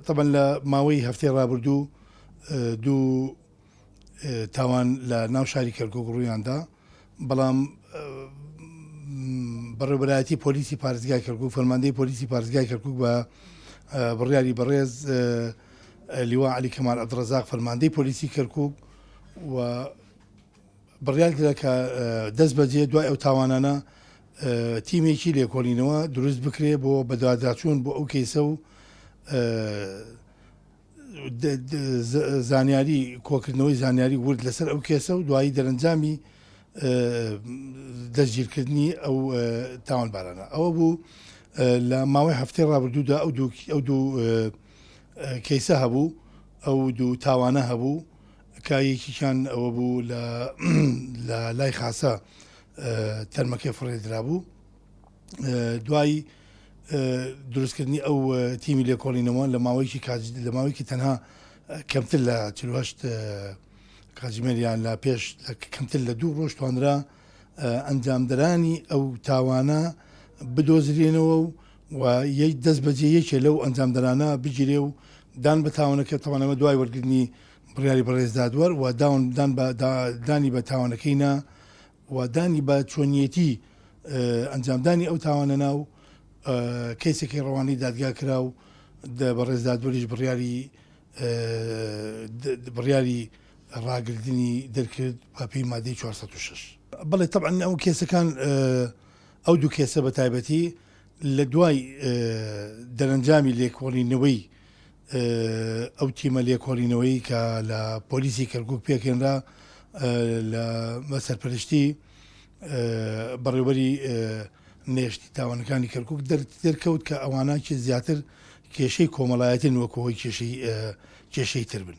تەبەن لە ماوەی هەفتەی ڕابردوو دوو تاوان لە ناو شاری کەرکوک ڕوویاندا بەڵام بەڕێبەرایەتی پۆلیسی پارێزگای کەرکک فەرماندەی پۆلیسی پارێزگای کەرکک بە بڕیاری بەڕێز لیوا علی کەمال ئەدڕزاق فەرماندەی پۆلیسی کەرکک و بڕیار کرا کە دەستبەجێ دوای ئەو تاوانانە تیمێکی لێکۆڵینەوە دروست بکرێ بۆ بەدواداچوون بۆ ئەو کەیسە و زانیاری کۆکردنەوەی زانیاری ورد لەسەر ئەو کێسە و دوایی دەرەنجامی دەستگیرکردنی ئەو تاوانبارانە ئەوە بوو لە ماوەی هەفتەی ڕابردوودا ئەو ئەو دوو کەیسە هەبوو ئەو دوو تاوانە هەبوو کە یەکیکیان ئەوە بوو لە لای خاسە تەرمەکەی فڕێ درابوو دوای دروستکردنی ئەو تیمی لێکۆڵینەوە لە ماوەیەکی لە ماوەیەکی تەنها کەمتر لە چهشت کاژمێریان لە پێش کەمتر لە دوو ڕۆژ توانرا ئەنجامدرانی ئەو تاوانە بدۆزرێنەوە و و یەک دەست بەجێ یەکێ لەو ئەنجامدرانە بگیرێ و دان بە تاوانەکە تەوانەوە دوای وەرگرنی بڕیاری بەڕێز دادوەر و داون دان بە دا دانی بە تاوانەکەی نا و دانی بە چۆنیەتی اه، ئەنجامدانی ئەو تاوانە نا و اه، کەیسەکەی ڕەوانەی دادگا کرا و د بەڕێز دادوەریش بڕیاری اه، د د بڕیاری ڕاگردنی دەرکرد بە پێی مادەی چوار سەد و شەش. بەڵێ تەبعەن ئەو کێسەکان اه، ئەو دوو کێسە بە تایبەتی لە دوای اه، دەرەنجامی لێکۆڵینەوەی ئەو تیمە لێکۆڵینەوەی کە لە پۆلیسی کەرکوک پێکهێنرا لە بەسەرپەرشتی بەڕێوبەری نێشتی تاوانەکانی کەرکک دەرکەوت کە ئەوانە چێ زیاتر کێشەی کۆمەڵایەتین وەکەوەی کێشەی کێشەی تر بن.